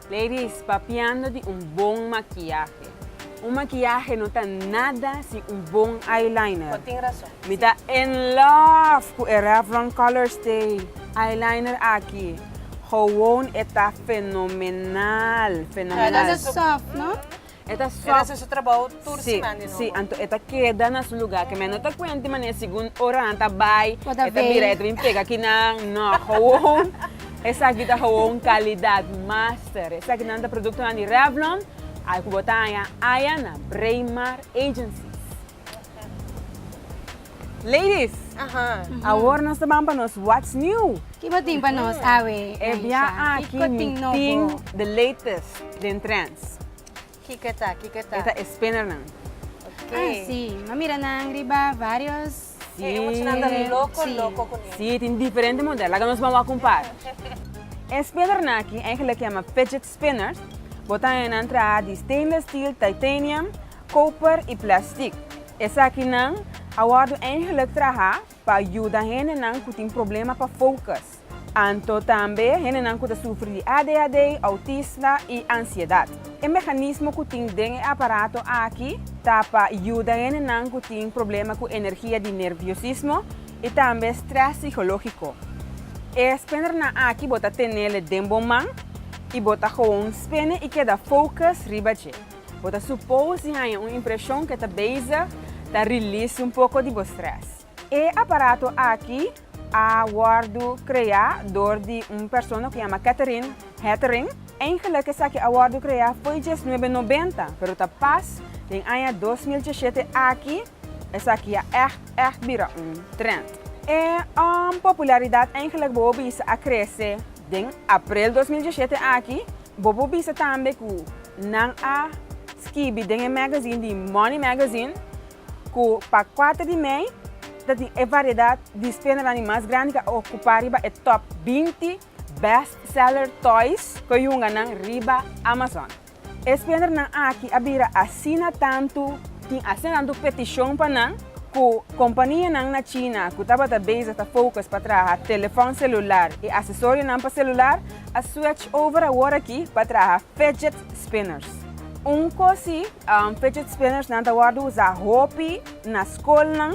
Ladies, papiando di un bon makiahe. Un makiahe no ta nada sin un bon eyeliner. Bo tin rason. Mi ta in love cu e Revlon Colorstay eyeliner aki. Gewoon e ta fenomenal, fenomenal. Nada soft, no? E ta sòf. E ta hasi su trabou tur siman di nobo. Sí, sí. Anto e ta keda na su lugá. Ke mei no ta kuent di manera segun ora nan ta bai, e ta bira, e ta bin pega ki nan. No, gowon. Esaki ta gowon kalidat master. Esaki nan ta produktonan di Revlon, al ku bo ta haña aya na Braemar Agencies. Ladies, awor nos ta ban pa nos What's New. Ki bo tin pa nos awe, Naisha? Kiko tin nobo? E bia aki mi tin the latest den trends. Kiko ta, kiko ta? E ta e spinnernan. Ah, si. Mi a mira nan riba varios. Si. E muchanan ta loko, loko kuné. Si, tin diferente model. Laga nos ban wak un par. E spinnernan aki, engelik yama fidget Spinners, Bo ta hennan traha di stainless steel, titanium, koper i plastic. Esakinan a wòrdu eigenlik traha pa yuda hendenan ku tin problema pa focus, anto tambe hendenan ku ta sufri di adhd, autisme i ansiedat. E mehanismo ku tin den e aparato aki ta pa yuda hendenan ku tin problema ku energia di nerviosismo, i tambe strès sikológiko. E spenernan aki bo ta tenel'e den bo man i bo ta gewoon spene i keda focus riba dje. Bo ta supos di haña un impreshon ku e ta bezig ta release un poko di bo strès. E aparato aki a wòrdu kreá dor di un persona ku yama Katherine Hettering. Eigenlik esaki a wòrdu kreá fo'i dies nuebe nobenta, pero ta pas den aña dos mil dieshete aki Esaki a ègt ègt bira un trend. E popularidad eigenlijk bobo bisa a krese den aprel dos mil dieschete aki. Bobo bisa tambe ku nan a skibi den e magazine di Money Magazine ku pa kuater di mei ta tin e variedat di spenanan di mas grandi ku a okupá riba e top binti best seller toys ku yunganan riba Amazon. E spiondernan aki a bira asina tantu, tin asina tantu petishon pa nan ku kompanianan na China ku tabata bezig ta fokus pa traha telefòn selular i asesorionan pa selular a swech over awor aki pa traha fidget spinners. Un kos si, fidget spinnersnan ta wòrdu usá hopi na skolnan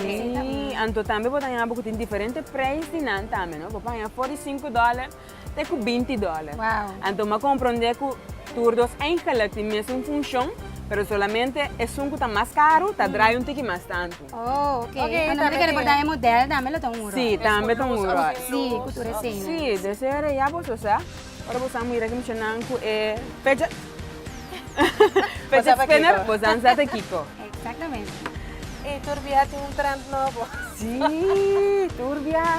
Sí, anto tambe bo ta haña bo cu tin diferente prijs di nan tambe, no? Bo por haña for di sinku dollar te cu binti dollar. Wow. Anto bo a comprende cu tur dos eigenlijk tin mesun funcion, pero solamente esun cu ta mas caro ta draai un tiki mas tantu. Oh, ok. Ok, Anto tambe tambe por ta haña model tambe lo ta un rol. Sí, tambe ta un rol. Sí, cu tur esei. Sí, desere ya bo so sa. Ora boso a mira ki mucha nan ku e fidget spinner boso sa ta kiko. Exactamente. Ey tur biaha tin un trend nobo. Si tur biaha.